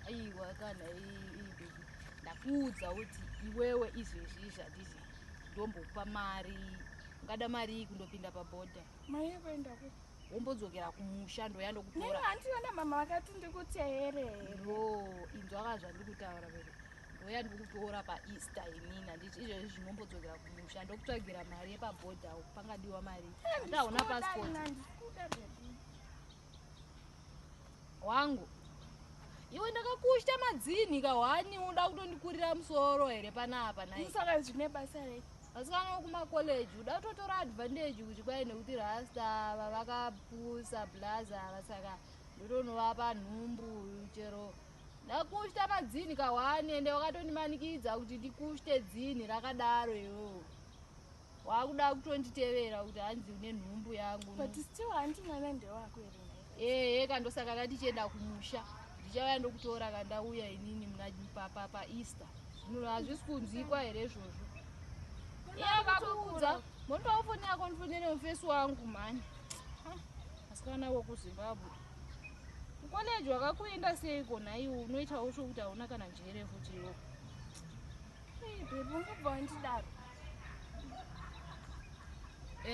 aiwa kana ibebi ndakuudza kuti iwewe izvezvi zvandizvi ndombokupa mari ungada mari iyi kundopinda pabhodha maye kuenda ku wombodzokera kumusha ndoya ndokutora handiona mama vakati ndikuti here ro inzwaka zvandiri kutaura vere ndoya ndikukutora paeaster inini handiti izvezvi zvinombodzokera kumusha ndokutsvagira mari yepabhodha pangadiwa mari ndaona pasipoti wangu iwe ndakakushita madzinhi kahwani unoda kutondikurira musoro here panapa naisaka zvine basa rei vasikana kumakoleji uda kutotora advantage kuti kwai nekuti rasta ava vakapusa blaza ava saka ndotonovapa nhumbu chero ndakushita madzinhi kahwani ende wakatondimanikidza kuti ndikushite dzinhi rakadaro iwewo wakuda kutonditevera kuti hanzi une nhumbu yangu but still hanti mwana ndewako here ehe eh, kandosaka katichienda kumusha ndichauya ndokutora kandauya inini muna papa paeaster munhu hazvisi kunzwikwa here izvozvo iye vakuudza mondipawo foni yako ndifonere mufesi wangu mhani asikana wokuzimbabwe kukoleji wakakuenda seiko nhaiwo unoitawo sokuti hauna kana njere futi iwoko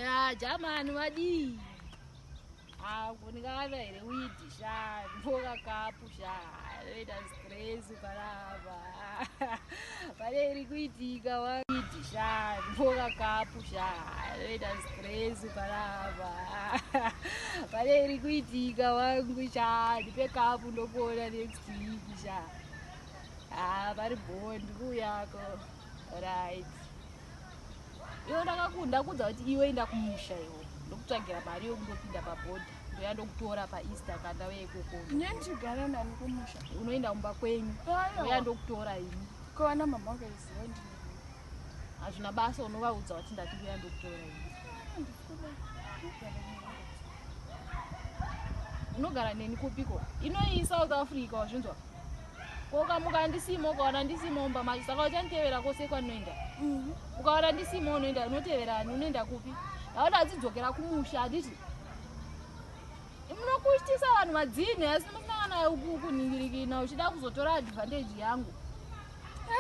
ya jamani vadii akunikava ah, here widi sha mboka kapu sha anoita stress ukarava pane iri kuitika widi sha mboka kapu sha anoita stress ukarava pane iri kuitika wangu sha ndipe kapu ndokuona next week sha Haa vari bhoo ndikuuyako right iwe ndakakunda kuudza kuti iwe inda kumusha iwe ndokutsvagira mari yokundopinda pabhodha ndoya ndokutora paeaster kandave ikoko nendigara nani kumusha unoenda kumba kwenyu ndoya ndokutora ini kovana mama vakaiziva ndi hazvina basa unovaudza kuti ndati ndoya ndokutora ini unogara neni kupiko inoyi south africa wazvinzwa ko ukamuka handisimo ukawana ndisimo mumba macho saka uchanditevera kwose kwandinoenda mhm. ukawana ndisimo unoenda unotevera ani unoenda kupi ndaona adzidzokera kumusha handiti munokuitisa vanhu madzini asi musinangana uku kuningirikina uchida kuzotora advantage yangu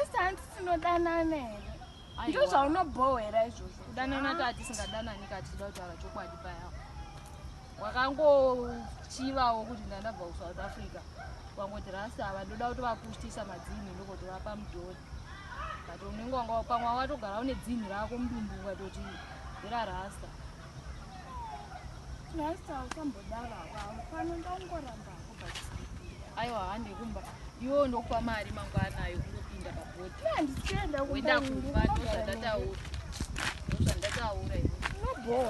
asi handisinodanana here ndozvaunobhohwera izvozvo kudanana kaa tisingadanani kaa tichida kutaura chokwadi paya wakangochivawo kuti ndandabva kusouth africa wangoti rasi ava ndoda kuti vakushitisa madzinhi ndokoti vapa mudhori but unenge wanga pamwe watogara une dzinhi rako mudumbu ukatoti ira rasta rasta usambodaro ava pano ndaungoramba aiwa hande kumba iwo ndokupa mari mangwana ayo kunopinda pabhodhi handisienda kuenda kumba ndozvandataura ndozvandataura inobowa